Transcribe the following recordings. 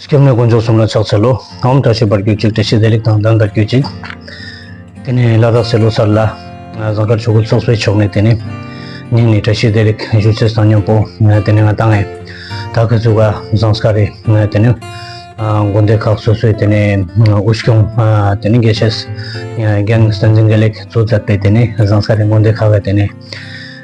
སྐྱབས་གནས་དཀོན་མཆོག་གསུམ་ལ་ཕྱག་འཚལ་ལོ། གང་འོམ་བཀྲ་ཤིས་པར་གྱུར་ཅིག་བཀྲ་ཤིས་བདེ་ལེགས་དང་ལྡན་པར་གྱུར་ཅིག། དེ་ནས་བླ་རྟགས་སེ་ལོ་སར་ལ། ཟངས་དཀར་ཆོས་སྐུ་ཚོགས་གསོལ་ཆོག་ནས་དེ་ནས། སྙིང་ནས་བཀྲ་ཤིས་བདེ་ལེགས་བཞུགས་ཚེ་བཟང་སྙམ་པོ། དེ་ནས་ང་དང། ད་གི་ཚུགས་ཀ་ཟངས་དཀར་རེ། དེ་ནས། དགོན་སྡེ་ཁག་སོ་སོས་དེ་ནས་དབུ་སྐྱོང། དེ་ནས་དགེ་བཤེས། རྒན། བསྟན་འཛིན་དགེ་ལེགས་གཙོས་མཛད་པའི་དེ་ནས་ཟངས་དཀར་རེ་དགོན་སྡེ་ཁག་གི་དེ་ནས།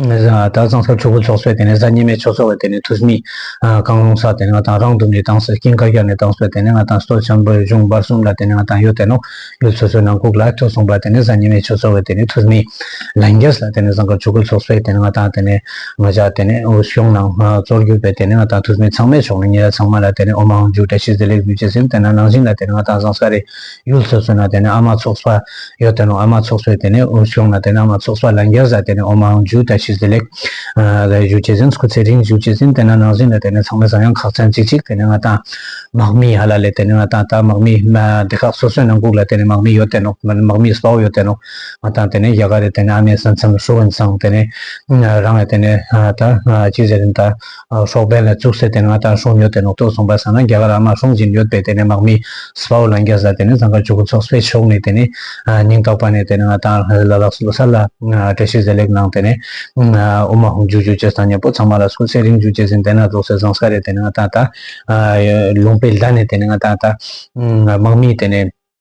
དག་གཙང་སར་ཕྲུ་གུ་འཚོགས་སའི་དེ་ནས་གཟའ་ཉི་མའི་ཆོས་འཚོགས་པའི་དེ་ནས་ཐུགས་མི་རྐང་རླུང་སར་དེ་ནས་ང་དང་རང་འདུམ་ནས་བཏང་སའི་སྐྱིན་དཀར་ཤར་ནས་བཏང་སའི་དེ་ནས་ང་དང་སྟོད་ཆེན་པོའི་གཞུང་བར་གསུམ་ལ་དེ་ནས་ང་དང་གཡུ་དེ་ནོག་གཡུ་ཚོད་ཚོད་ནང་ཁུག་ལ་ཐུག་སོང་པ་དེ་ནས་གཟའ་ཉི་མའི་ཆོས་འཚོགས་པའི་དེ་ནས་ཐུགས་མི་ལན་རྒྱས་ལ་དེ་ནས་གཟའ་འཁོར་ཆོས་གོས་འཚོགས་སའི་དེ་ནས་ང་དང་དེ་ནས་ང་ཅག་དེ་ནས་འོ་ཞོག་ནང་གཙོར་གྱུར་པའི་དེ་ནས་ང་དང་ཐུགས་མི་ཚང་མས་ཕྱོགས་ནས་ཉེ་ར་ཚང་མ་ལ་དེ་ནས་འོ་མ་འོ་འཇུག་བཀྲ་ཤིས་བཟི་ལེགས་བདུད་རྩི་ཟིན་དེ་ནས་ནང་བཞིན་ལ་དེ་ནས་ང་དང་བཟང་ས་རེད་ཡུལ་སོ་སོ་ན་དེ་ནི་ཨ་མ་ཚོགས་པ་ཡོད་དེ་རུང་ཨ་མ་ཚོགས་པས་དེ་ནི་འུར་ཆོག་ན་དེ་ནི་ཨ་མ་ཚོགས་པ་ལ་འགྱར་ཟ་དེ་ནི་ཨོ་མའང་འཇུ་དང་ཤི་ཟི་ལེགས། ལས་ཞུགས་བྱེད་ཟིན་སྐུ་ཚེ་རིང་ཞུགས་བྱེད་ཟིན་དེ་ན་ནང་ཟིན་ལ་དེ་ནི་ཚང་མས་བཟང་ཡང་ཁག་ཚན་ཅིག་ཅིག་དེ་ནི་ང་དང། དམག་མི་ཧ་ལ་ལས་དེ་ནི་ང་དང་ད་དམག་མི། སྡེ་ཁག་སོ་སོའི་ནང་ལྐུགས་ལ་དེ་ནི་དམག་མི་ཡོད་དེ་རུང་དམག་མི་སྤའོ་ཡོད་དེ་རུང་ང་དང་དེ་ནི་རྒྱ་གར་རེད་དེ་ནི་ཨ་མའི་ས་མཚམས་སུ་ཨོན་སངས་དེ་ནི། རང་ལ་དེ་ནི་ད་ཅིག་ཟེར་རིན་ད། ཧྲོག་པའི་ལ་བཙུགས་ཟེར་དེ་ང་དང་ཧྲོང་ཉོ་དེ་ནོག་ཐོག་སོང་པ་ཟ་ན་རྒྱ་གར་ཨ་མ་ཧྲོང་གཅིག་ཡོད་པས་དེ་ནས་དམག་མི་སྤའོ་ལ་འགྱ་ཟ་དེ་ནས་ཚང་ག་ཇུ་གུ་ཚོགས་སྤེ་ཕྱོགས་ནས་དེ་ནས་སྙིང་ཏོག་པ་ནས་དེ་ནས་ང་དང་ཧོས་ལ་ལགས་སུ་ལོ་སར་ལ་བཀྲ་ཤིས་བཟེད་ལེགས་གནང་དེ་ནས་ཨོ་མ་ཧོང་ཇུ་ཇུ་རྗེས་ཐང་ཉེ་པོ་ཚང་མ་ལ་སུག་སེ་རིང་ཇུ་རྗེས་ཟིན་དེ་ནང་རྫོགས་སེ་བཟང་ས་རེད་དེ་ནས་ང་དང་ད་ལུང་པའི་ལ་ནས་དེ་ནས་ང་དང་ད་དམག་མི་དེ་ནས།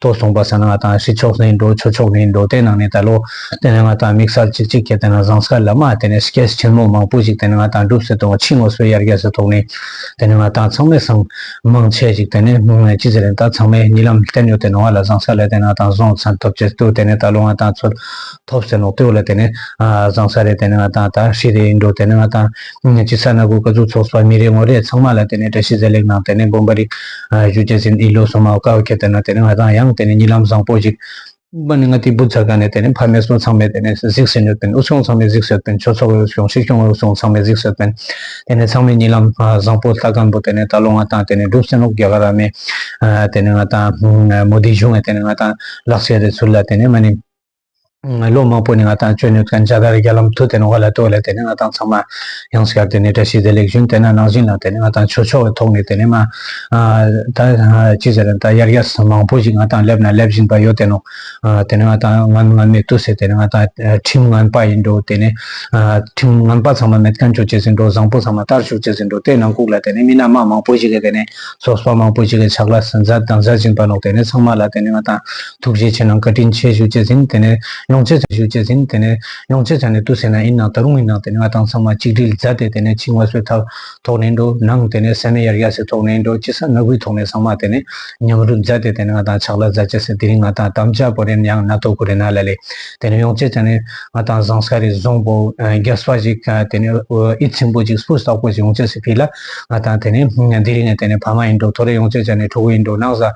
ཐོ་བཟུང་པ་ས་ནི་ང་དང་ཧྲི་ཆོག་ནི་འགྲོ་ཆོ་ཆོག་ནི་འགྲོ་དེ་ནང་ནས་ད་ལོ་དེ་ནས་ང་དང་དམིགས་བསལ་ཅིག་ཅིག་གྱེས་དེ་ནང་བཟང་སྐལ་ལ་མ་དེ་ནས་སྐྱེས་ཆེན་མོ་མང་པོ་ཞིག་དེ་ནས་ང་དང་སྒྲུབ་སེ་ཐོག་ཕྱི་ངོ་སོའི་ཡར་རྒྱས་སུ་ཐོག་ནས་དེ་ནས་ང་དང་ཚང་མས་སང་མང་ཆེ་ཞིག་དེ་ནས་སྣུང་ནས་ཅི་ཟེར་ཡིན་ད་ཚང་མས་ཉིད་ལམ་བསྟན་ཡོད་དེ་ནང་ང་ལ་བཟང་སྐལ་ལས་དེ་ནང་དང་བཟང་ཚན་ཐོབ་ཆེད་དུ་དེ་ནས་ད་ལོ་ང་དང་ཚོད་ཐོབ་ཟེར་ནོག་ཏེའུ་ལ་དེ་ནས་བཟང་ས་རེད་དེ་ནས་ང་དང་ད་ཧྲི་རེད་འགྲོ་དེ་ནས་ང་དང་ཅི་ས་ན་གུ་ག་གཙུག་ཚོགས་སོགས་མི་རེ་ངོ་རེ་ཚང་མ་ལ་དེ་ནས་བཀྲ་ཤིས་བཟེད་ལེགས་གནང་དེ་ནས་དགོན་པ་རིག་གཞུ་རྒྱ་ཆེན་ཨི་ལོ་སོ་མའོ་ཀའོ་ཁྱེད་དེ་ན་དེ་ནས་ང་དང་ཡང་དེ་ནས་གཉིད་ལམ་བཟང་པོ་ཞིག། པ་ནི་ང་ཏི་པུ་ཚ་ག་ནས་དེ་ནས་ཕ་མེས་སོ་ཚང་མས་དེ་ནས་གཟིགས་ཟིན་ཡོད་པན་ཨུ་སོང་ཚང་མས་གཟིགས་ཟོད་པན་ཆོས་ཚོགས་ཨུ་སོང་སྲིད་སྐྱོང་ཨུ་སོང་ཚང་མས་གཟིགས་ཟོད་པན་དེ་ནས་ཚང་མས་གཉིད་ལམ་བཟང་པོ་ལྟ་གང་པོ་དེ་ནས་ད་ལོ་ང་དང་དེ་ནས་འགྲུབ་ཟེར་ནོག་རྒྱ་ག་ར་མས་དེ་ནས་ང་དང་མོ་དི་བཞུགས་ནས་དེ་ནས་ང་དང་ལག་ཆད་རེ་ཚུར་ལ་དེ་ནས་ང་ནི། ལོ་མང་པོ་ནས་ང་དང་གཅོད་ནུས་མཁན་བྱ་དགའ་རི་རྒྱ་ལམ་ཐུ་དེ་ནི་ཧོ་ལ་ཏོའུ་ལ་དེ་ནི་ང་དང་ཚང་མ་ཡང་སྐྱར་དེ་ནི་བཀྲ་ཤིས་བདེ་ལེགས་ཞུ་དེ་ན་ནང་བཞིན་ལ་དེ་ནི་ང་དང་ཆོས་ཕྱོགས་ཀྱི་ཐོག་ནས་དེ་ནི་མ་ད་ཅི་ཟེར་ད་དབྱར་རྒྱ་ཟ་མང་པོ་ཞིག་ང་དང་སླེབས་ན་སླེབས་བཞིན་པ་ཡོད་དེ་ནོ་དེ་ནི་ང་དང་ང་ང་མེད་དུ་ཟེར་དེ་ནི་ང་དང་ཁྲིམས་ངན་པ་ཡིན་འགྲོ་དེ་ནི་ཁྲིམས་ངན་པ་ཚང་མ་མེད་དཀའ་འགྱོ་བྱེད་ཟིན་འགྲོ་བཟང་པོ་ཚང་མ་ལྟར་བཞུགས་བྱེད་ཟིན་འགྲོ་དེ་ནང་ཁུག་ལ་དེ་ནི་མི་སྣ་མང་མང་པོ་ཞིག་གི་དེ་ནི་སོགས་པ་མང་པོ་ཞིག་གི་ཕྱག་ལ་ཟན་ཟ་དང་ཟ་བཞིན་པ་ནོ་དེ་ནི་ཚང་མ་ལ་དེ་ནི་ང་དང་ཐུགས་རྗེ་ཆེ་ནང་བཀའ་དྲིན་ཆེ་ཞུ་བྱེད་ཟིན་དེ་ནས་ཡོང་བྱེད་ཟེར་ཞུ་བྱེད་ཟིན་དེ་ནས་ཡོང་བྱེད་ཟེར་ནས་ཏུ་ཟེར་ན་ཨིན་ནང་ད་རུང་ཨིན་ནང་དེ་ནས་ང་དང་ཚང་མ་གཅིག་དྲིལ་མཛའ་དེ་དེ་ནས་ཕྱི་ངོ་སོའི་ཐབས་ཐོག་ནས་འགྲོ་ནང་དེ་ནས་ཟས་མེད་ཡར་ཡར་ཟས་ཐོག་ནས་འགྲོ་སྤྱི་ས་ནག་པོའི་ཐོག་ནས་ཚང་མ་དེ་ནས་ཉམས་རུ་མཛའ་དེ་དེ་ནས་ང་དང་ཕྱག་ལ་མཛའ་བྱེད་ཟེར་དེ་རིང་ང་དང་དམ་བཅའ་པོ་རེད་ཡང་ན་ཐོག་ཁུ་རེད་ན་ལ་ལས་དེ་ནས་ཡོང་བྱེད་ཟེར་ནས་ང་དང་བཟང་ས་རེད་བཟང་པོ་རྒྱ་སྤ་ཞིག་དེ་ནས་ཨི་ཚིམ་པོ་ཅིག་སྤུ་བསག་པོ་ཞིག་ཡོང་བྱེད་ཟེར་ཕི་ལ་ང་དང་དེ་ནས་དེ་རིང་ནས་དེ་ནས་ཕ་མ་ཡིན་འགྲོ་ཐོ་རེ་ཡོང་བྱེད་ཟེར་ནས་ཕྲུ་གུ་ཡིན་འགྲོ་ནང་ཟ།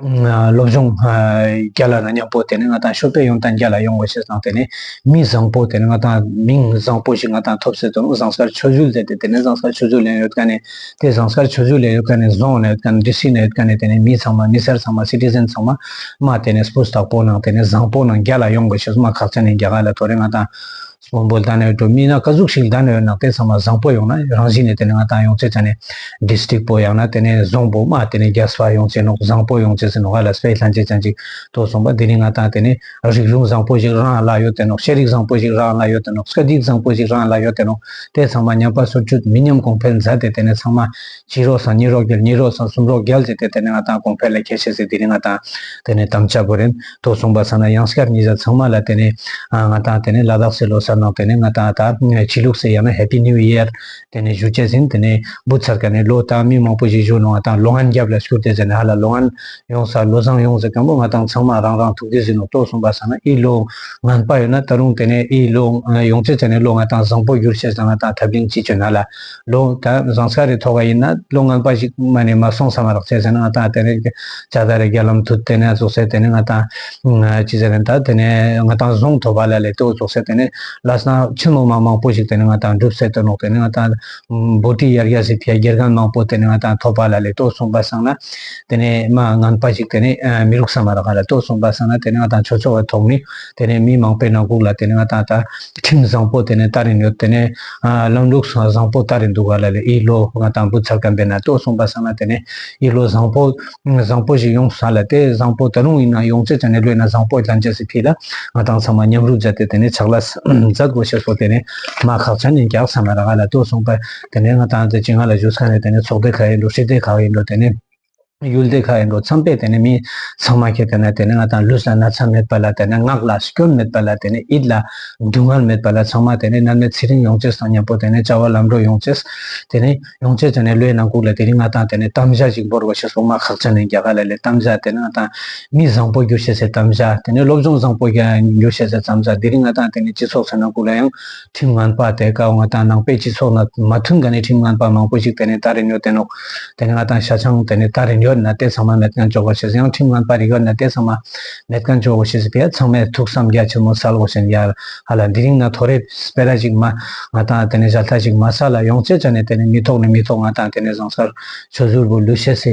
སློབ་སྦྱོང་བརྒྱ་ལ་ན་མཉམ་པོ་དེ་ནི་ང་དང་ཤོ་པས་ཡོང་དང་བརྒྱ་ལ་ཡོང་གོ་ཞེས་བཟང་དེ་ནི་མི་བཟང་པོ་དེ་ནི་ང་དང་མིང་བཟང་པོ་ཞིག་ང་དང་ཐོབ་ཟེར་དོ་ནུབ་བཟང་སར་ཆོས་ཞུགས་ལས་དེ་དེ་ནི་བཟང་སར་ཆོས་ཞུགས་ལས་ཡོད་ཀ་ནས་དེ་བཟང་སར་ཆོས་ཞུགས་ལས་ཡོད་ཀ་ནས་བཟང་ན་ཡོད་ཀ་ནས་འདི་སྲིད་ན་ཡོད་ཀ་ནས་དེ་ནི་མི་ཚང་མ་མི་སེར་ཚང་མ Citizen ཚང་མ་མ་དེ་ནི Spouse དག་པོ་ནང་དེ་ནི་བཟང་པོ་ནང་བརྒྱ་ལ་ཡོང་གོ་ཞེས་མ་ཁག་ཚན་ནི་བརྒྱ་ག་ལ་དོ་རེད་ང་དང་དབང་པོ་ལྡང་ནས་འགྲོ་སྨིན་ན་དཀའ་ཟུག་ཞིག་ལྡང་ནས་ནང་བསྟན་ཚང་མ་བཟང་པོ་ཡོང་ན་རང་གཞིས་ནས་དེ་ནས་ང་ཏང་ཡོངས་ཚོས་དེ་ནས District པོ་ཡང་ན་དེ་ནས་རྫོང་པོ་མ་དེ་ནས་རྒྱ་བཟའ་ཡོང་ཚེ་ནོག་བཟང་པོ་ཡོང་ཚེ་ཟེར་ནོག་ཨ་ལ་སྤེ་ལྷན་ཅིག་ཅན་ཅིག་ཐོག་སོང་པ་དེ་ནས་ང་ཏང་དེ་ནས་རིག་གཞུང་བཟང་པོ་ཞིག་རང་ལ་ཡོད་དེ་ནོག་ཤེས་རིག་བཟང་པོ་ཞིག་རང་ལ་ཡོད་དེ་ནོག་སྐད་ཡིག་བཟང་པོ་ཞིག་རང་ལ་ཡོད་དེ་ནོག་དེ་ཚང་མ་ཉམས་པ་སོར་ཆུད་མི་ཉམས་གོང་འཕེལ་མཛད་དེ་དེ་ནས་ཚང་མ་གཅིག་རོགས་སམ་གཉིས་རོགས་བརྒྱད་གཉིས་རོགས་སམ་གསུམ་རོགས་བརྒྱད་ཟེར་ཏེ་དེ་ནི་ང་དང་གོང་འཕེལ་ལ་ཁྱད་བཤད་ཟེར་དེ་ནི་ང་དང་དེ་ནི་དམ་བཅའ་བོ་རེད་དོ་གསུངས་པ་ཚང་ན་ཡང་སྐར་གཉིས་བཟའ་ཚང་མ་ལ་དེ་ནི་ང་དང་དེ་ནི་ལ་དྭགས་སེ་ལོ་སར་ནང་དེ་ནི་ང་དང་དང་ཕྱི་ལུགས་སེ་ཡང་ན Happy New Year དེ་ནི་བཞུ་བྱས་ཟིན་དེ་ནི་འབུ་ཚར་ག་ནི་ལོ་དང་མི་མང་པོ་ཞིག་བཞུ་ནོ་དང་ལོ་ངན་རྒྱབ་ལ་བསྐྱུར་ཏེ་ཟེར་ནི་ཧ་ལ་ལོ་ངན་ཡོང་ས་ལོ་བཟང་ཡོང་ཟེར་གང་པོ་ང་དང་ཚང་མ་རང་རང་ཐུགས་རྗེ་ཟིན་ནོ་དོ་གསུངས་པ་ཚང་ན་ཨི་ལོ་ངན་པ་ཡོད་ན་ད་རུང་དེ་ནི་ཨི་ལོ་ཡོང་ཚེ་དེ་ནི་ལོ་ང་དང་བཟང་པོ་བསྒྱུར་བྱས་ཟེར་ང་དང་ཐབས་གླིང་སྤྱི་ཆོས་ན་ལ་ལོ་ད་བཟང་ས་རེ་ཐོག་པ་ཡིན་ན་ལོ་ངན་པ་ཞིག་མ་ནས་མ་སོང་ས་མ་རག་བྱས་ཟེར་ན་ང་ད་དེ་རེ་བྱ་ད་རེ་རྒྱ་ལམ་དུ་དེ་ནས་རྫོགས་ས་དེ་ནས་ང་ད་ཅི་ཟེར་ད་དེ་ནས་ང་ད་བཟང་ཐོག་པ་ལ་ལས་དོ་རྫོགས་ས་དེ་ནས་ལ་སང་ཆེན་མོ་མ་མང་པོ་ཞིག་དེ་ནས་ང་ད་འགྲུབ་ས་དོ་ནོག་དེ་ནས་ང་ད་འབོ་ཏི་ཡར་རྒྱ་སི་ཕྱ་རྒྱལ་ཁམས་མང་པོ་དེ་ནས་ང་ད་ཐོག་པ་ལ་ལས་དོ་གསུངས་པ་སང་ན་དེ་ནས་མ་ངན་པ་ཞིག་དེ་ནས་མི་རུག་ས་མ་རག་ག་ལ་དོ་གསུངས་པ་སང་ན་དེ་ནས་ང་ད་ཆོས་ཆོས་བ་ཐོག་མི། དེ་ནས་མི་མང་པོས་ནང་ཁུག་ལ་དེ་ནས་ང་དང་ད་ཁྲིམས་བཟང་པོ་དེ་ནས་ལྟ་རིན་ཡོད་དེ་ནས་ལམ་ལུགས་བཟང་པོ་ལྟ་རིན་འདུག་ག་ལ་ལས་ཨི་ལོ་ང་དང་བུ་ཚ་སྐམ་པས་ན་ལྟོས་གསུངས་པ་བསམ་ན་དེ་ནས་ཨི་ལོ་བཟང་པོ་བཟང་པོ་ཞིག་ཡོང་ས་ལ་དེ་བཟང་པོ་ད་རུང་ཡིན་ན་ཡོང་ཚད་ཅང་ནས་ལོས་ན་བཟང་པོ་ལྷན་རྒྱས་སུ་ཁེལ་ལ་ང་དང་ཚང་མ་མཉམ་རུབ་བྱ་སྟེ་དེ་ནས་ཕྱག་ལ་བཟའ་དགོས་ཞེས་སོགས་དེ་ནས་མ་ཁག་ཅང་ནས་རྒྱག་ས་མ་ར་ག་ལ་ལྟོས་གསུངས་པས་དེ་ནས་ང་དང་ད་ཅི་ང་ལ་བཞུགས་ས་ནས་དེ་ནས་ཚོགས་སྡེ་ག་ཡིན་འགྲོ་ཤེས་སྡེ་ག་ཡིན་འགྲོ་དེ་ནས། ཡུལ་འདི་ག་ཡིན་འགྲོ་མཚམས་པས་དེ་ནས་མི་ཚང་མ་ཁྱེར་དེ་ནས་དེ་ནས་ང་དང་ལུས་ལ་ན་ཚ་མེད་པ་ལ་དེ་ནས་ངག་ལ་སྐྱོན་མེད་པ་ལ་དེ་ནས་ཡིད་ལ་སྡུག་བསྔལ་མེད་པ་ལ་ཚང་མ་དེ་ནས་ནར་མའི་ཚེ་རིང་ཡོང་ཆེད་བསམ་སྙམ་པོ་དེ་ནས་བྱ་བ་ལམ་འགྲོ་ཡོང་ཆེད། དེ་ནས་ཡོང་ཆེད་དེ་ནས་ལོའི་ནང་ཁུག་ལ་དེ་རིང་ང་དང་དེ་ནས་གཏམ་བཞག་ཅིག་འབོར་བ་ཞིག་སོང་ང་ཁག་ཅག་ནས་རྒྱ་གར་ལ་ལས་གཏམ་བཞག་དེ་ནས་ང་དང་མི་བཟང་པོ་རྒྱུ་བྱེད་སའི་གཏམ་བཞག་དེ་ནས་སློབ་སྦྱོང་བཟང་པོ་རྒྱུ་བྱེད་སའི་གཏམ་བཞག་དེ་རིང་ང་དང་དེ་ནས་སྤྱི་ཚོགས་ཚོའི་ནང་ཁུག་ལ་ཡང། ཁྲིམས་ངན་པ་དེ་ག་ང་དང་ནང་པའི་སྤྱི་ཚོགས་ན་མ་མཐུན་ག་ནས་ཁྲིམས་ངན་པ་མང་པོ་ཞིག་དེ་ནས་ད་རེ་ཉོ་དེ་ནོག་དེ་ནས་ང་དང་ཤ་ཆང་དེ་ནས་ད་རེ་ཉོ་ན་དེ་ཚང་མ་མེད་ཀན་འཇོག་པ་ཞིག་ཡང་ཁྲིམས་ངན་པ་རིག་ཡོད་ན་དེ་ཚང་མ་མེད་ཀན་འཇོག་བོ་ཞིག་དེ་ཚང་མས་ཐུགས་བསམ་རྒྱ་ཆེན་མོ་བསལ་བོ་ཞིག་ཡར་ཧ་ལ་འདི་རིང་ན་ཐོ་རེ་སྤེ་ར་ཞིག་མ་ང་དང་དེ་ནས་བཞལ་ཐ་ཞིག་མ་ས་ལ་ཡོང་ཅེ་ཅ་ནས་དེ་ནས་མི་ཐོག་ནས་མི་ཐོག་ང་དང་དེ་ནས་བཟང་སར་ཆོས་ཟུར་བོ་ལུས་བཤད་སའི་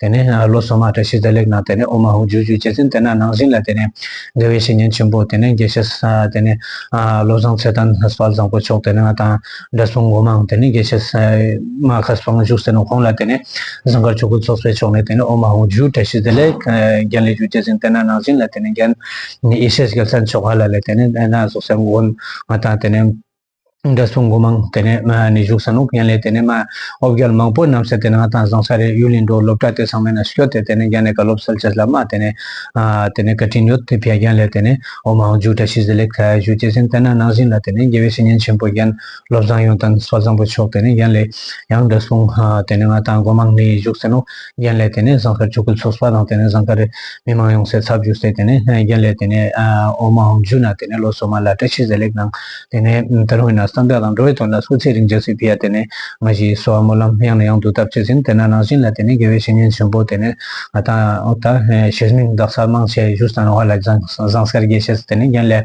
དེ་ནས་ལོ་གསུམ་མ་ཏྲ་ཤི་ཛ་ལེགས་ནང་དེ་ནས་ཨོ་མ་ཧུ་ཇུ་ཇུ་རྗེ་བཙུན་དེ་ནང་ནང་བཞིན་ལ་དེ་ནས་དགེ་བའི་བཤེས་གཉེན་ཆེན་པོ་དེ་ནས་དགེ་བཤེས་ས་དེ་ནས་བློ་བཟང་ཚེ་དང་སྤ་བཟང་པོ་མཆོག་དེ་ནས་ང་དང་འདྲ་སོང་མགོ་མང་དེ་ནས་དགེ་བཤེས་ས་མ་ཁ་སྤང་བཞུགས་ཟེར་ནས་ཁོང་ལ་དེ་ནས་ཟངས་དཀར་ཆོས་སྐུ་ཚོགས་སའི་ཕྱོགས་ནས་དེ་ནས་ཨོ་མ་ཧུ་ཇུ་ཏྲ་ཤི་ཛ་ལེགས་རྒྱན་ལས་ཇུ་རྗེ་བཙུན་དེ་ནང་ནང་བཞིན་ལ་དེ་ནས་རྒྱན་ཡེ་ཤེས་རྒྱལ་མཚན་མཆོག་ཧ་ལ་ལས་དེ་ནས་ཨེ་ན་ཟུག་སའི་མགོ་ང་དང་དེ་ནས། འདྲ་སོང་དགོས་མང་དེ་ནས་མ་ནི་བཞུགས་ས་ནུབ་ཡན་ལས་དེ་ནས་མ་ཨོ་བརྒྱལ་མང་པོ་རྣམས་སད་དེ་ནང་དང་བཟང་ས་རེད་ཡུལ་ལི་འགྲོ་སློབ་གྲྭ་དེ་ཚང་མས་ན་སྐྱོ་དེ་དེ་ནས་རྒྱ་ནས་ག་སློབ་སལ་ཆེ་སླ་མ་དེ་ནས་དེ་ནས་ག་དྲིན་ཡོད་དེ་བས་རྒྱན་ལས་དེ་ནས་ཨོ་མ་ཨོ་མཇུག་བཀྲ་ཤིས་བཟི་ལེགས་ཐལ་བཞུགས་སྐྱེས་ཆེན་བསྟན་ན་ནང་བཞིན་ལ་དེ་ནས་རྒྱལ་བའི་བཤེས་གཉེན་ཆེན་པོ་རྒྱན་སློབ་བཟང་ཡོངས་དང་བཟང་པོ་མཆོག་དེ་ནས་རྒྱན་ལས་ཡང་འདྲ་སོང་དེ་ནས་མ་དང་དགོས་མང་ནི་བཞུགས་ས་ནུབ། རྒྱན་ལས་དེ་ནས་ཟངས་དཀར་ཆུ་ཁོལ་ཚོགས་སྤ་དང་དེ་ནས་ཟངས་དཀར་རི། མི་མང་ཡོང་སའི་ཚབ་བྱུགས་སའི་དེ་ནས་རྒྱན་ལས་དེ་ནས་འོ་མ་འོམ་ཆུ་ན་དེ་ནས་ལོ་སོ་མ་ལ་བཀྲ་ཤིས་ཟེར་ལེགས་གནང། དེ་ནས་དར་བྷི་ན་བསམ་གྲགས་དང་འགྲོ་བའི་དོན་ལ་སོ་ཚིས་རིང་འཇགས་སི་བྷི་ཡ་དེ་ནས་ང་བཞི་སོ་བ་སྨོན་ལམ་ཡང་ནས་ཡང་དུ་བཏབ་བྱས་ཟིན་དེ་ན་ནང་བཞིན་ལ་དེ་ནས་དགེ་བའི་བཤེས་གཉེན་ཆེན་པོ་དེ་ནས་ང་དང་ད་ཞིར་མིང་བདག་ས་དམངས་ཆས་བཞུགས་ས་ན་བྷ་ལ་ཟངས་དཀར་དགེ་བཤེས་སུ་དེ་ནས་རྒྱན་ལས།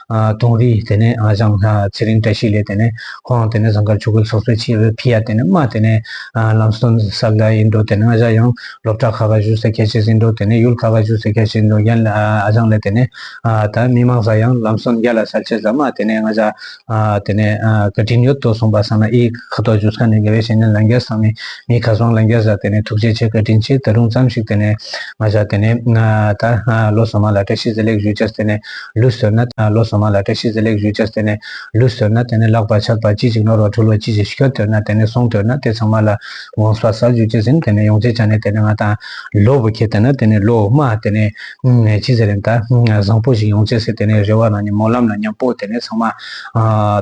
དུང་རི་དེ་ནས་བཞེངས། ཚེ་རིང་བཀྲ་ཤིས་ལས་དེ་ནས་ཁོང་དེ་ནས་ཟངས་དཀར་ཆུ་ཁོལ་སོགས་སུ་ཕྱིན། བྷི་ཡ་དེ་ནས་རྨ་དེ་ནས་ལམ་སྟོན་ས་ལ་ཡིན་འགྲོ་དེ་ནས་བཞག་ཡང་སློབ་གྲྭ་ཁ་ཁ་བཞུགས་སའི་ཁྱད་ཆོས་ཟིན་འགྲོ་དེ་ནས་ཡུལ་ཁ་ཁ་བཞུགས་སའི་ཁྱད་ཆོས་ཟིན་འགྲོ་ཡན་ལ་བཞེངས་ལས་དེ་ནས་ད་མི་མང་ས་ཡང་ལམ་སྟོན་རྒྱ་ལ་ས་ཆེ་ས་རྨ་དེ་ནས་བཞག། དེ་ནས་བཀའ་དྲིན་ཡོད་དོ་གསུངས་པ་སངས་ན་ཨི་ཁ་དོག་བཞུགས་ས་ནས་དགེ་བའི་བཤེས་གཉེན་ལ་འགྱེལ་སངས་མི་མི་ཁ་སོང་ལ་འགྱེལ་ས་དེ་ནས་ཐུགས་རྗེ་ཆེ་བཀའ་དྲིན་ཆེ་ད་རུང་བརྩམས་ཤིག་དེ་ནས་བཞག་དེ་ནས་ད་ལོ་སོ་མ་ལ་བཀྲ་ཤིས་ཟེར་ལེགས་ཞུས་བྱས་དེ་ནས། ལུས་ཟོས་ན། ལོ་གསུམ་མ་ལ་བཀྲ་ཤིས་བཟི་ལེགས་ཞུས་བྱས་ཟེར་ནས་ལུས་ཟོས་ན་དེ་ནས་ལག་པ་ཕྱག་པ་ཅི་ཞིག་ནོར་བ་འཁྲུལ་བ་ཅི་ཞིག་ཤི་ཁར་དོད་ན་དེ་ནས་སོང་དོད་ན་དེ་ཚང་མ་ལ་དགོངས་པ་ཟ་ཞུས་བྱས་ཟིན་དེ་ནས་ཡོངས་རྗེས་ཆགས་ནས་དེ་ནས་ང་དང། ལོ་བུ་ཁྱེད་དེ་ན་དེ་ནས་ལོ་མ་དེ་ནས། ཅི་ཟེར་རན་ད། བཟང་པོ་ཞིག་ཡོང་བྱས་ཟེར་དེ་ནས་རེ་བ་ན་ཉིན་མོ་ལམ་ལ་ཉམས་པོ་དེ་ནས་ཚང་མ།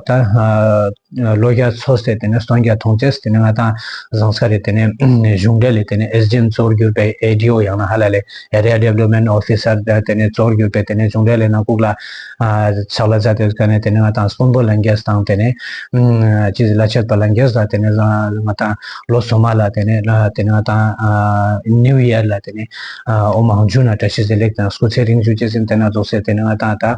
ད། ལོ་བརྒྱ་འཚོ་ཟེར་དེ་ནས་སྟོང་བརྒྱ་ཐོངས་ཚེ་དེ་ནས་ང་དང་བཟང་ས་རེད་དེ་ནས་གཞུང་འབྲེལ་ལས་དེ་ནས་ཨེས་ལྗི་ཨེན་གཙོར་གྱུར་པའི་ཨེ་ལྡི་ཨོ་ཡང་ན་ཧ་ལ་ལས Area Development Officer དེ་ནས་གཙོར་གྱུར་པའི་དེ་ནས་གཞུང་འབྲེལ་ལས་ནང་བཀུག་ལ་ཕྱག་ལ་བཟའ་དེ་དགའ་ནས་དེ་ནས་ང་དང་སྤུན་པོ་ལན་རྒྱས་དང་དེ་ནས་ཅི་ཟེར་ལ་ཆད་པ་ལན་རྒྱས་ཟ་དེ་ནས་ང་དང་ལོ་གསུམ་མ་ལ་དེ་ནས་དེ་ནས་ང་དང New Year ལ་དེ་ནས་ཨོ་མང་ཇུ་ན་བཀྲ་ཤིས་ཟེར་ལེགས་དང་སྐུ་ཚེ་རིང་བཞུགས་ཅེས་ཟེར་དེ་ན་རྫོགས་ཟེར་དེ་ནས་ང་དང་ད།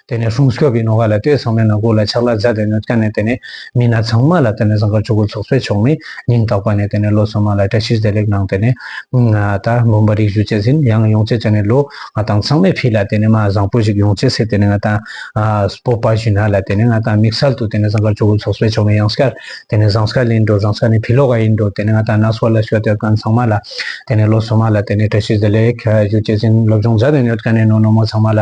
དེ་ནས་ཧྲུང་སྐྱོབ་པའི་ནོ་ག་ལ་ལྟོས་ཚང་མའི་ནང་སྒོ་ལ་ཆག་ལ་རྫ་དེ་ནས་བཀལ་ནས་དེ་ནས་མི་སྣ་ཚང་མ་ལ་དེ་ནས་ཟངས་ཀར་ཆུ་གུར་ཚོགས་གསོལ་ཆོག་མི་ཉིང་རྟག་པ་ནས་དེ་ནས་ལོ་སོ་མ་ལ་བཀྲ་ཤིས་བདེ་ལེགས་གནང་དེ་ནས་ད་འབུམ་པ་རིགས་བཞུགས་བཅས་ཟིན་ཡང་ཡོང་བཅས་བྱས་ནས་ལོ་ང་དང་ཚང་མས་ཕིས་ལ་དེ་ནས་མ་བཟང་པོ་ཞིག་ཡོང་བཅས་སེ་དེ་ནས་ང་དང་སྤོབས་པ་བཞུ་ན་ལ་དེ་ནས་ང་དང་མིག་སལ་དུ་དེ་ནས་ཟངས་ཀར་ཆུ་གུར་ཚོགས་གསོལ་ཆོག་མི་ཡང་སྐར་དེ་ནས་ཟངས་སྐར་ལིན་འགྲོ་ཟངས་སྐར་ནས་ཕི་ལོ་ག་ཡིན་འགྲོ་དེ་ནས་ང་དང་ན་སོ་ལ་ཤོ་དེ་ག་ཚང་མ་ལ་དེ་ནས་ལོ་སོ་མ་ལ་དེ་ནས་བཀྲ་ཤིས་བདེ་ལེགས་བཞུགས་བཅས་ཟིན་ལོ་བྱུང་རྫ་དེ་ནས་བཀལ་ནས་ནོ་ནོ་མོ་ཚང་མ་ལ།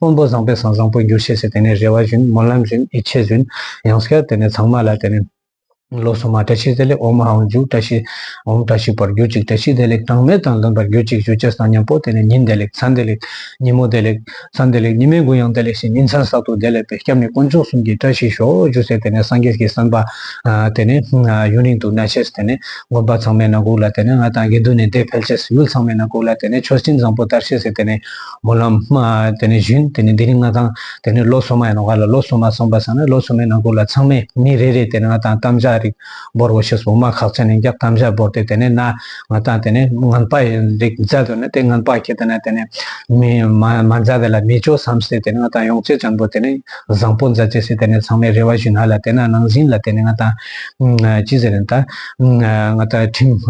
དབང་པོ་བཟང་པོས་སང་བཟང་པོ་འགྱུར་ཤེས་སེ་དེ་ནས་རེ་བ་བཞིན་སྨོན་ལམ་བཞིན་ཡིད་ཆེས་བཞིན་ཡང་སྐྱར་དེ་ནས་ཚང་མ་ལ་དེ་ནས། ལོ་སོ་མ་བཀྲ་ཤིས་བདེ་ལེགས་འོ་མ་འང་འཇུག་བཀྲ་ཤིས་འོམ་བཀྲ་ཤིས་པར་གྱུར་ཅིག་བཀྲ་ཤིས་བདེ་ལེགས་གྲངས་མེད་དང་ལྡན་པར་གྱུར་ཅིག་ཞུ་རྗེས་དང་མཉམ་པོ་དེ་ནས་ཉིན་བདེ་ལེགས་མཚན་བདེ་ལེགས་ཉིན་མོ་བདེ་ལེགས་མཚན་བདེ་ལེགས་ཉི་མའི་མགོ་ཡང་བདེ་ལེགས་ཤིང་ཉིན་མཚན་གསར་དུ་བདེ་ལེགས་པའི་སྐྱབས་གནས་དཀོན་མཆོག་གསུམ་གྱི་བཀྲ་ཤིས་ཤོག་ཞུ་སའི་དེ་ནས་སངས་རྒྱས་ཀྱི་བསམ་པ། དེ་ནས་ཡུན་རིང་དུ་གནས་ཤེས་དེ་ནས་དགོན་པ་ཚང་མའི་ནང་བཀུག་ལ་དེ་ནས་ང་དང་དགེ་འདུན་ནས་བདེ་འཕེལ་ཤེས་ཡུལ་ཚང་མའི་ནང་བཀུག་ལ་དེ་ནས་ཆོས་སྤྱིན་བཟང་པོ་དར་ཤེས་སེ་དེ་ནས། མོ་ལམ། དེ་ནས་བཞུན། དེ་ནས་དེ་རིང་ང་དང། དེ་ནས་ལོ་སོ་མ་ཡིན་ནོ་ག་ལ་ལོ་སོ་མ་སོང་པ་སང་ནས་ལོ་སོ་མའི་ནང་ཁུག་ལ་ཚང་མས་མི་རེ་རེས་དེ་ནས་ང་དང་གཏམ་བཞག་རིགས་འབོར་བོ་ཞེས་འོ་མ་ཁག་ཚན་ནས་འགྱག་གཏམ་བཞག་འབོར་ཏེ་དེ་ནས་ན་ང་དང་དེ་ནས་ངན་པ་རིགས་མཛའ་དུ་ན་དེ་ངན་པ་ཁྱེད་དང་ན་དེ་ནས་མི་མ་མཛའ་བས་ལ་མི་ཅོ་བསམ་སེ་དེ་ནས་ང་དང་ཡོངས་བྱེད་བྱང་བུ་དེ་ནས་བཟང་པོ་མཛའ་བྱས་སེ་དེ་ནས་ཚང་མས་རེ་བ་བཞིན་ཧ་ལ་དེ་ན་ནང་བཞིན་ལ་དེ་ནས་ང་དང། ཅི་ཟེར་ན་ད། ང་དང་ཁྲིམས།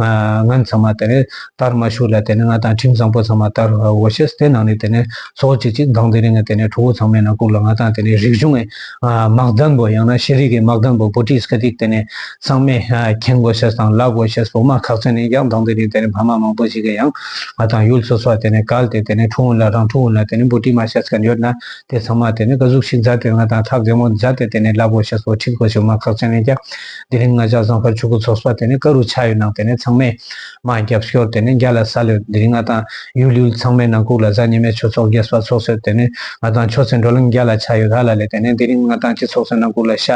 ངན་ཚང་མ་དེ་ནས། ལྟར་མ་བཞུགས་ལ་དེ་ནས་ང་དང་ཁྲིམས་བཟང་པོ་ཚང་མ་ལྟར་འོ་ཤེས་དེ་ནང་ནས་དེ་ནས་ཚོགས་གཅིག་གཅིག་མདང་དེ་རིང་གི་དེ་ནས་ཁྲོ་བོ་ཚང་མའི་ནང་བཀུག་ལ་ང་དང་དེ་ནས་རིག་གཞུང་གི་དམག་དམ་པོ་ཡང་ན་ཤེས་རིག་གི་དམག་དམ་པོ་པོ་ཏི་སྐད་ཐིག་དེ་ནས་ཚང་མས་ཁྱེང་འོ་ཤེས་དང་ལགས་འོ་ཤེས་བོ་མ་ཁག་ཚན་ནས་ཡང་མདང་དེ་རིང་དེ་ནས་ཕ་མ་མང་པོ་ཞིག་གི་ཡང་ང་དང་ཡུལ་སོ་སོ་བ་དེ་ནས་བཀལ་ཏེ་དེ་ནས་ཁྲོ་བོ་ལ་རང་ཁྲོ་བོ་ལ་དེ་ནས་པོ་ཏི་མ་ཤེས་སྐད་ཡོད་ན་དེ་ཚང་མ་དེ་ནས་བཀའ་གཟུགས་ཤིག་མཛད་དེ་ང་དང་ཐག་རྒྱ་མོ་མཛད་དེ་དེ་ནས་ལགས་འོ་ཤེས་བོ་ཁྲིག་འོ་ཤེས་བོ་མ་ཁག་ཚན་ནས་ཀྱང་དེ་རིང་ང་ཅག་བཟང་དཀར་ཆོས་སྐུ་ཚོགས་པ་དེ་ནས་བཀའ་རུ་ཆ་ཡོད་ནང་དེ་ནས་ཚང་མས། མ་རྒྱབ་ཤོར་དེ་ནས་རྒྱ་ལ་ས་ལོད་འདིར་ང་དང་ཡུལ་ཡུལ་ཚང་མའི་ནང་ཁུག་ལ་གཟའ་ཉི་མའི་ཆུ་ཚོགས་རྒྱས་སྤར་ཚོགས་སོད་དེ་ནས་ང་དང་ཆོས་ཚེ་འགྲོ་གླིང་རྒྱ་ལ་ཆ་ཡོད་ར་ལ་ལས་དེ་ནས་འདི་རིང་ང་དང་སྤྱི་ཚོགས་སོད་ནང་ཁུག་ལ་ཤ་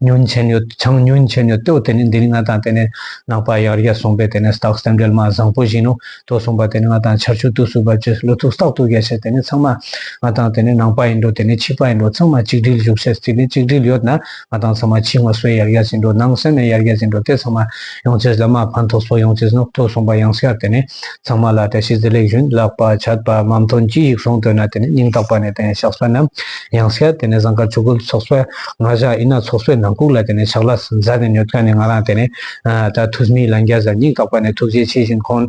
ཉོན་ཆན་ཡོད་ཆང་ཉོན་ཆན་ཡོད་ཏོ་དེ་ནས་འདི་རིང་ང་དང་དེ་ནས་ནང་པ་ཡག་རྒྱ་སོང་པས་དེ་ནས་སྟག་སྟེམ་འབྲེལ་མ་བཟང་པོ་བཞིན་ནོ་ཏོ་སོང་པ་དེ་ནས་ང་དང་ཆར་ཆུ་དུག་སུ་བབ་ཅེས་བློ་ཐུག་སྟག་ཐུག་རྒྱ་ཆེ་དེ་ནས་ཚང་མ་ང་དང་དེ་ནས་ནང་པ་ཡིན་འགྲོ་དེ་ནས་ཕྱི་པ་ཡིན་འགྲོ་ཚང་མ་གཅིག་སྒྲིལ་བཞུགས་ཤེས་དེ་ནས་གཅིག་སྒྲིལ་ཡོད་ན། ང་དང་ཚང་མ་ཕྱི་ངོ་སོས་ཡར་རྒྱ་ཟིན་འགྲོ་ནང་སོས་ནས་ཡར་རྒྱ་ཟིན་འགྲོ་དེ་ཚང་མ་ཡོང་ཚེ་ཟླ་མ་ཕན་ཐོགས་སོ་ཡོང་ཚེ་སྣུབ་ཐོགས་གསུངས་པ་ཡང་ཤར་དེ་ནས་ཚང་མ་ལ་བཀྲ་ཤིས་བདེ་ལེགས་བཞུན་ལག་པ་ཆད་པ་མམ་དོན་གྱི་ཡིག་གཟུངས་བཏོན་ན་དེ་ནས་སྙིང་ཐག་པ་ནས་དེ་ནས་ཕྱག་སྲོལ་རྣམས་ཡང་ཤར་དེ་ནས་བཟང་ཁ་ཆོས་གོས་ཚོགས་སྲོལ་ང་བཞག་ཡིན་ན་ཚོགས་སྲོལ་ནང་ཁུག་ལ་དེ་ནས་ཕྱག་ལ་ཟ་ནས་ཉོ་ཐོན་ནས་ང་རང་དེ་ནས་ད་ཐུགས་མི་ལ་འགྱ་ཟ་སྙིང་ཐག་པ་ནས་ཐུགས་རྗེ་ཆེ་བཞིན་ཁོང།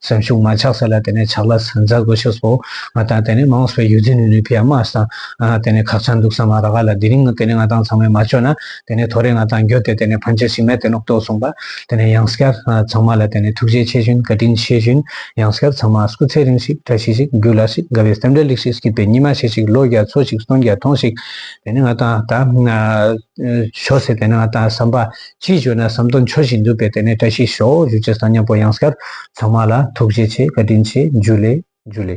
སེམས་ཤུགས་མ་ཆགས་ས་ལ་དེ་ནས་ཆགས་ལ་སེམས་འཚབ་དགོས་ཤོག་སོ། ང་དང་དེ་ནས་མང་ས་པའི་ཡུལ་འཛིན་ནུས་ནུས་པའི་དམག་ས་དེ་ནས་ཁག་ཆགས་འདུག་ས་མ་ར་ག་ལ་དེ་རིང་དེ་ནས་ང་དང་ཚང་མས་མ་བཅོས་ན་དེ་ནས་ཐོ་རེ་ང་དང་འགྱོད་དེ་དེ་ནས་ཕན་ཆ་ཞིག་མེད་དེ་ནོག་ཏོག་གསུངས་པ་དེ་ནས་ཡང་སྐྱར་ཚང་མ་ལ་དེ་ནས་ཐུགས་རྗེ་ཆེ་ཞུན་བཀའ་དྲིན་ཆེ་ཞུན་ཡང་སྐྱར་ཚང་མ་སྐུ་ཚེ་རིང་ཞིག་བཀྲ་ཤིས་ཤིག་རྒྱུ་ལ་ཞིག་དགའ་བའི་སེམས་འདྲ་ལེགས་ཤིག་སྐྱིད་པའི་ཉི་མ་ཤས་ཤིག་ལོ་བརྒྱ་འཚོ་ཞིག་སྟོང་བརྒྱ་ཐོངས་ཤིག་དེ་ནས་ང་དང་ད་ཆོས་སེ་དེ་ནས་ང་དང་བསམ་པ་ཅིས་བརྗོད་ན་ཟམ་གདོང་འཆོར་བཞིན་འདུག་པས་དེ་ནས་བཀྲ་ཤིས་ཤོག་བཞུགས་ཅེས་བསམ་སྙམ་པོ་ཡང་སྐར་ཚང་མ་ལ་ཐུགས་རྗེ་ཆེ་བཀའ་དྲིན་ཆེ་འཇུ་ལེ་འཇུ་ལེ།